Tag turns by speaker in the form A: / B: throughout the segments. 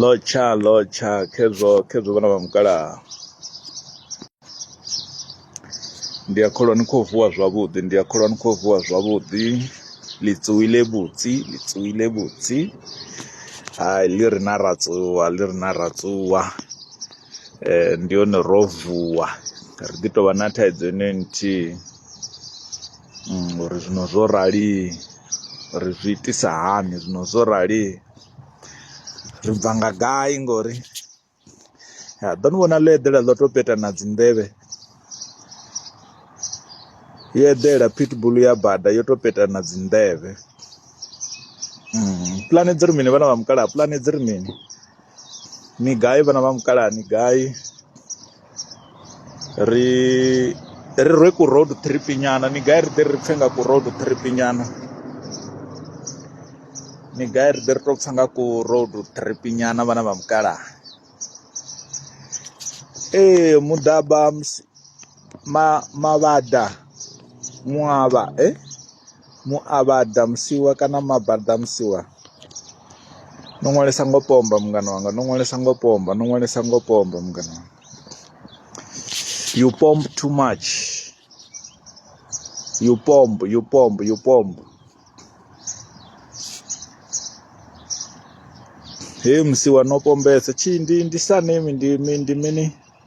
A: lotsha lotsha khezwo khezwo vhana vha mukalaha ndi a kholwa ni khou vuwa zwavhuḓi ndi a kholwa ni khou vuwa zwavhuḓi litsuwile vhutsi litsuwile vhutsi hai ḽi ri na ratsuwa ḽi ri na ratsuwa um ndi hone ro vuwa ri ḓi tovha na thaidzo ine nthihi Uri zwino zwo rali ri zwi itisa hani zwino zwo rali ri bva nga gai ngori ya ḓo ni vhona ḽo eḓela ḽo to peta na dzi nḓevhe yo eḓela pitbull ya bada yo to peta na dzi nḓevhe pulane dzi ri mini vhana vha mukalaha pulane dzi ri mini ni gai vhana vha mukalaha ni gai. ri ri rwe ku road trip nyana ni gai ri ḓe ri pfhe nga ku road trip nyana ni gai ri ḓe ri to pfha nga ku road trip nyana vhana vha mukala ee muḓaba ma mavhada muavha eh muavhaḓa musiwa kana mabaḓa musiwa no ṅwalisa ngo pomba mungana wanga no ṅwalisa ngo pomba no ṅwalisa ngo pomba mungana wanga you pomb too much you pomb you pomb you pomb he musiwa no pombesa tshindi ndi sa nemi ndi ndi mini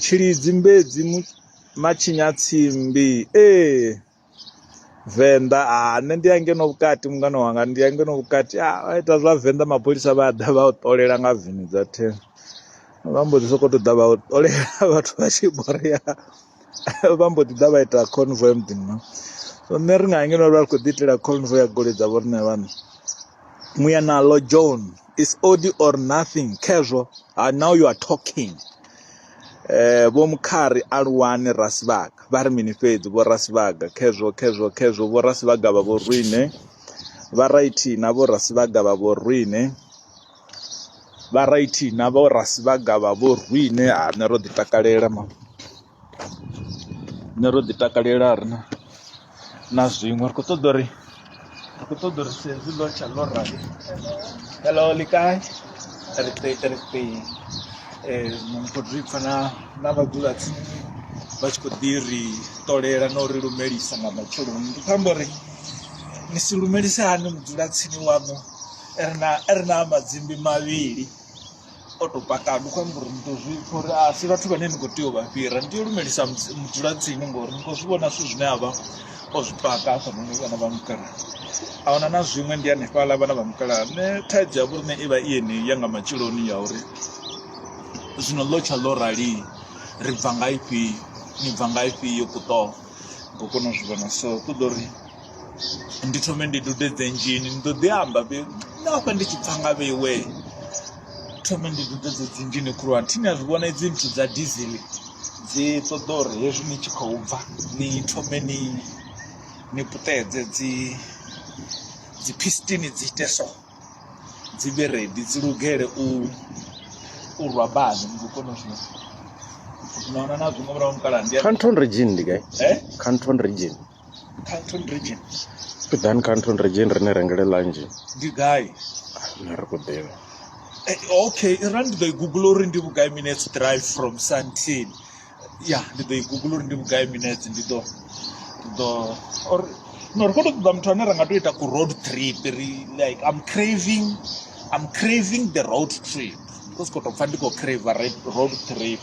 A: Tshilidzi mbedzi matshinya tsimbi ee venḓa a nṋe ndi a ngeno vhukati mungana wanga ndi a ngeno vhukati a vha ita zwa venḓa mapholisa vha ḓa vha u ṱolela nga veni dza thendo vha mbo ḓi sokou ṱoḓa vha u ṱolela vhathu vha tshi borea. vha mbo ḓi ḓa vha ita convoy ya muḓini no so nṋe ri nga ngeno vha ri khou ḓi itela convoy ya goloi dza vho riṋe vhana muya nalo john is odi or nothing khezwo ha now you are talking eh vho mukhari aluwani rasibaga vha ri mini fhedzi vho rasibaga khezwo khezwo khezwo vho rasibaga vha vho rwine vha raithi na vho rasibaga vha vho rwine vha raithi na vho ra si vha gavha vho rwiṋe ha nṋe ro ḓi takalela ma nṋe ro ḓi takalela ri na na zwiṅwe ri kho ṱoḓa uri ri kho ṱoḓa uri sedzi ḽo tsha ḽo ra hello likai ri ṱe ri ṱe eh ndi kho ḓi pfha na na vhadzula tsini vha tshi kho ḓi ri ṱolela na uri lumelisa nga matsheloni ndi khou amba uri ni si lumelise hani mudzula tsini waṋu ri na ri na madzimbi mavhili o to paka ndi khou amba uri ni to zwi pfha uri a si vhathu vhane ni khou tea u vha fhira ni tea u lumelisa mudzulatsini ngori ni khou zwi vhona zwithu zwine a vha o zwi paka hafhanoni vhana vha mukala a huna na zwiṅwe ndi hanefhaḽa vhana vha mukala ne thaidzo ya vhorine i vha i yeneyi ya nga matshiloni ya uri zwino ḽo tsha ḽo rali ri bva nga ifhio ni bva nga ifhio kuṱoho ngo kona u zwi vhona so ku ḓo ri ndi thome ndi dudedze nzhini ndi ḓo ḓi amba vhe na hafha ndi tshi pfa nga vheiwe thome ndi dudedze dzi nzhini khulwane thini a zwi vhona idzi nthu dza dizili dzi ṱoḓa uri hezwi ni tshi khou bva ni thome ni ni puṱedze dzi dzi pistini dzi ite so dzi vhe redi dzi lugele u u rwa bani ndi kone u zwi naona na zwiṅwe murahu mukala ndi Canton region ndi gai?
B: eh Canton region. Canton region. Pidan Canton region rine rengele lanji. Ndi gai?
A: Nṋe ri khou
B: ḓivha. Eh, okay,
A: ra ndi ḓo i Google uri ndi vhugai minutes drive from Sandton. Ya, ndi ḓo i Google uri ndi vhugai minutes ndi ḓo ndi ḓo or no ri khou tou ṱoḓa muthu ane ra nga tou ita ku road trip ri like I'm craving I'm craving the road trip. Ndi khou sokou tou pfha ndi khou craver road trip.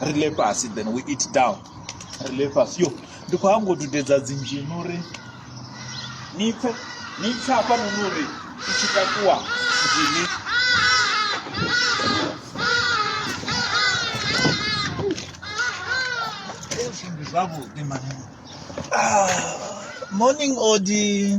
A: ri le fhasi then we eat down ri le fhasi yo ndi khou hango dudedza dzinzhini uri ni pfe ni pfe hafha noni uri i tshi takuwa nzhini zwavhuḓi mani ah, morning odi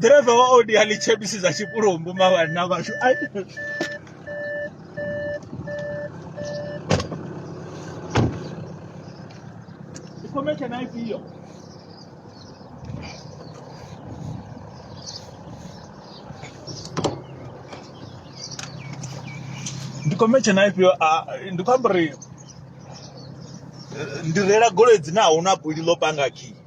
A: ḓiraiva wa odi ha litshe bisi dza tshipulumbu mavhanna vhashu ikhometshe na ifhio ndikhometshe na ifhio ndi khou amba uri ndi reila goloi dzine a huna buli ḽo panga khiyi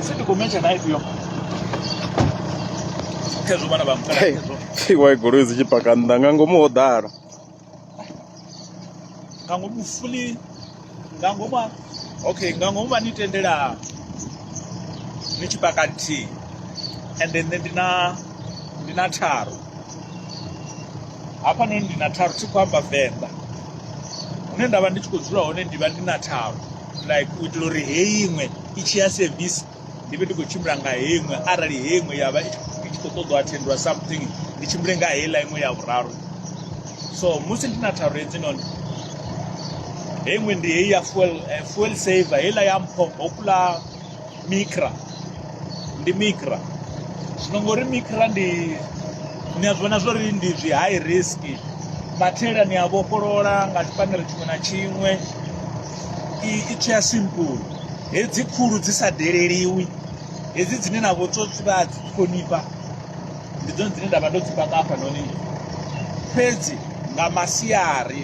A: Sisi kumecha na hivyo. Kezo bana ba mkala kezo. iwa igoloi dzi tshi
B: paka nnḓa nga ngomu ho ḓala
A: Nga ngomu fuli nga ngomu okay nga ngomu vha ni tendela ni tshi paka nthihi. And then ndi na ndi na tharu. hafha noni ndi na tharu thi khou amba venḓa hune nda vha ndi tshi khou dzula hone ndi vha ndi na tharu like u itela uri heyi iṅwe i tshi ya sevisi ndi vhe ndi khou tshimbila nga heyi iṅwe arali heyi iṅwe ya vha i tshi khou ṱoḓwa athendiwa something ndi tshimbile nga heiḽa iṅwe ya vhuraru so musi ndi na tharu hedzi noni heyi iṅwe ndi heyi ya fuel eh, fuel saver heiḽa ya mpho hokula mikra ndi mikra zwino ngori mikra ndi ni a zwi vhona zwori ndi zwi high risk mathela ni a vhofholola nga tshipanere tshiṅwe na tshiṅwe i tsho ya simple hedzi khulu dzi sa deleliwi hedzi dzine na vho tsotsi vha dzi ṱhonifha ndi dzone dzine nda vha ndo dzi paka hafha noni fhedzi nga masiari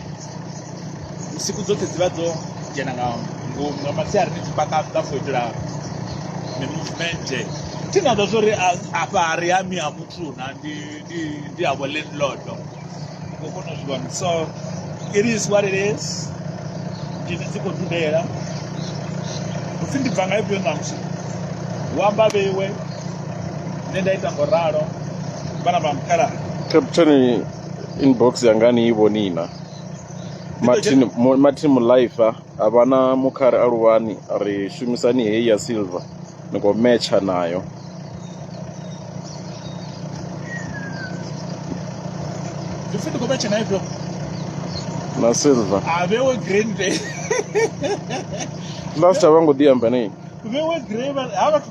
A: vhusiku dzoṱhe dzi vha dzo dzhena nga ngomu nga masiari ni tshi paka nnḓa for itela mi-movement thi na ḓo zwo ri afha ri ha mi ha muthu na ndi ndi ndi ha vho landlord ngo kona u zwi vhona so it is what it is ndini dzi khou dudela upfhi ndi bva nga ifhio ṋamusi hu amba vheiwe nṋe nda ita ngo ralo vhana vha mukhala captain
B: inbox yanga ni i vhoni na martin Mo- martin mulife a vha na mukhare a luvhani a ri shumisani heyi ya silver ni khou metsha nayo
A: Ndi pfi ndi khou metsha na ifhio?
B: na silver A vhewe green day. last a vha ngo ḓi amba nei Vhewe grey vha-
A: ha vhathu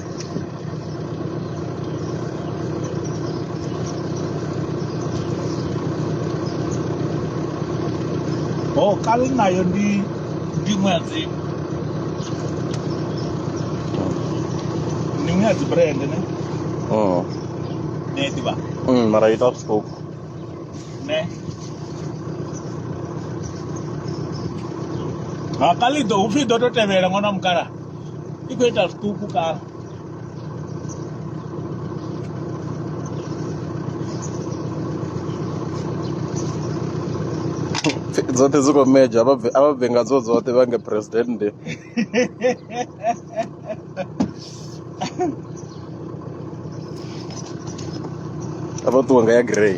A: kale nayo ndi ndi ṅwedzi ndi ṅwedzi brand ne Mm. ne ḓivha Mm, mara ita vhusiku
B: ne
A: ha kale iḓo upfhi iḓo to tevhela ṅwana mukala i khou
B: ita zwiṱuku kana dzoṱhe dzi khou medzha a vha bve- a vha bve nga dzo dzoṱhe vha nge president a vha ṱuwe nga ya grey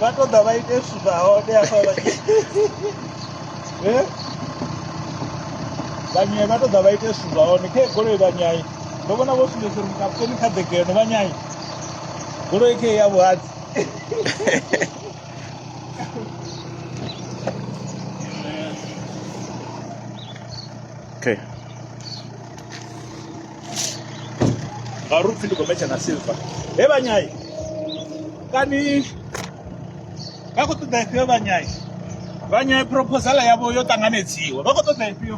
A: vha to ḓa vha ite zwithu zwa hone afha vha eh? vhanyai vha to ḓa vha ite zwithu zwa hone khe goloi vhanyai ndo vhona vho sumbedza uri mukaputeni kha ḓegeno vhanyai goloi khe ya vhuhadzi
B: okay
A: nga uri upfi ndi khou metsha na silver he vhanyai kani vha khou ṱoḓa ifhio vhanyai vhanyai proposal yavho yo ṱanganedziwa vha khou ṱoḓa ifhio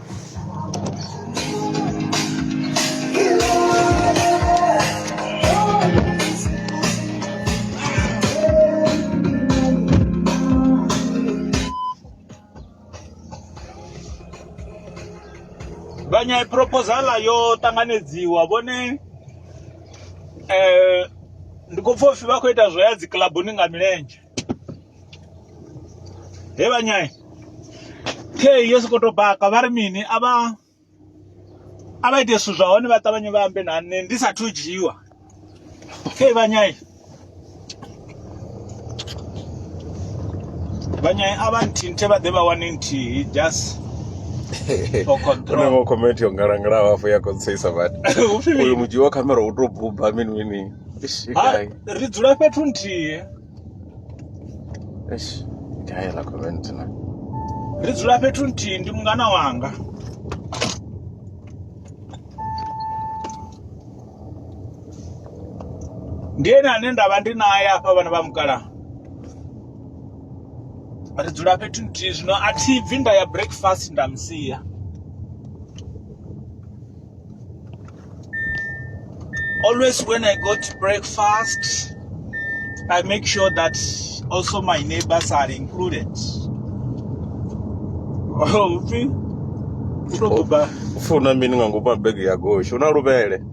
A: vhanya proposal yo ṱanganedziwa vhone eh ndi khou pfha upfi vha khou ita zwo ya dzi kilabuni nga milenzhe he vhanyai khe yo sokou tou baka vha ri mini a vha a vha ite zwithu zwa hone vha ṱavhanye vha ambe na nṋe ndi sathu dzhiwa khe vhanyai vhanyai a vha nthinthe vha ḓe vha wane nthihi just onevo comment yo ngalangalaho
B: hafho ya konseisa vati uyu mudzhiwa khamera u to buba mini mini
A: ri dzula fhethu nthihi eish
B: gai la koventina ri dzula
A: fhethu nthihi ndi mungana wanga ndi ene ane nda vha ndi naye hafha vhana vha mukala ri dzula fhethu nthihi zwino a thi bvi nda ya breakfast nda musia Always when I go to breakfast, I make sure that also my neighbors are included. Oh, ufi
B: unokuba ufuna mini nga ngopa bag ya gosho una lubele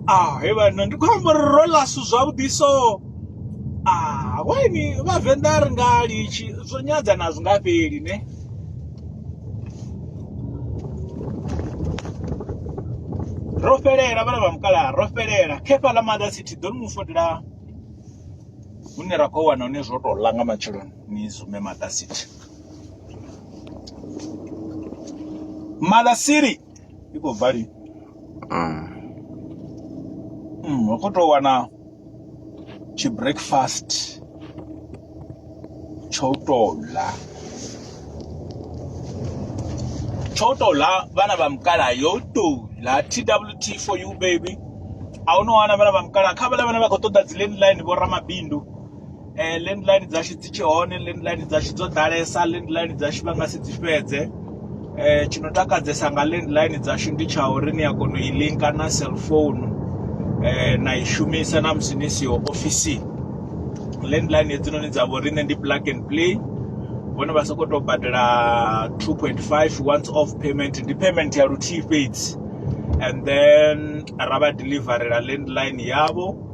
B: ah he
A: vhana ndi khou amba uri ro lasu zwavhuḓi so ah waini vhavenḓa a ri nga litshi zwo nyadza na zwi nga fheli ne ro fhelela vhana vha mukalaha ro fhelela khefha ḽa mother city ḓo ni mu fotela hune ra khou wana hune zwo tou ḽa nga matsheloni ni zume mother city mother city i khou bva lini Mm, ri khou tou wana tshi breakfast tsho tou ḽa tsho tou ḽa vhana vha mukala yo tou ḽa twt for you baby a hu no wana vhana vha mukala kha vhala vhane vha khou ṱoḓa dzi landline vho ramabindu eh, landline dzashu dzi tshi hone landline dzashu dzo ḓalesa landline dzashu vha nga si dzi fhedze eh, tshi no takadzesa nga landline dzashu ndi tsha uri ni a kona u i linka na cellphone eh, na i shumisa na musi ni siho ofisini landline hedzinoni dza vhoriṋe ndi plug and play vhone vha sokou tou badela 2.5 once off payment ndi payment ya luthihi fhedzi and then ra vha deliverela landline yavho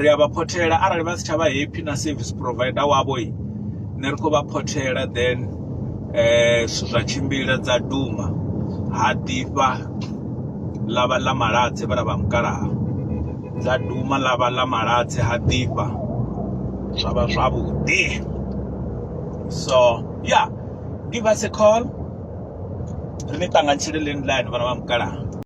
A: ri a vha phothela arali vha si tsha vha happy na service provider wavho i ne ri khou vha phothela then eh zwithu zwa tshimbila dza duma ha ḓifha ḽa vha ḽa maladze vha vha mukalaha dza duma ḽa vha ḽa maladze ha ḓifha zwa vha zwavhuḓi so yeah give us a call ri ni ṱanganyisele landline vhana vha mukalaha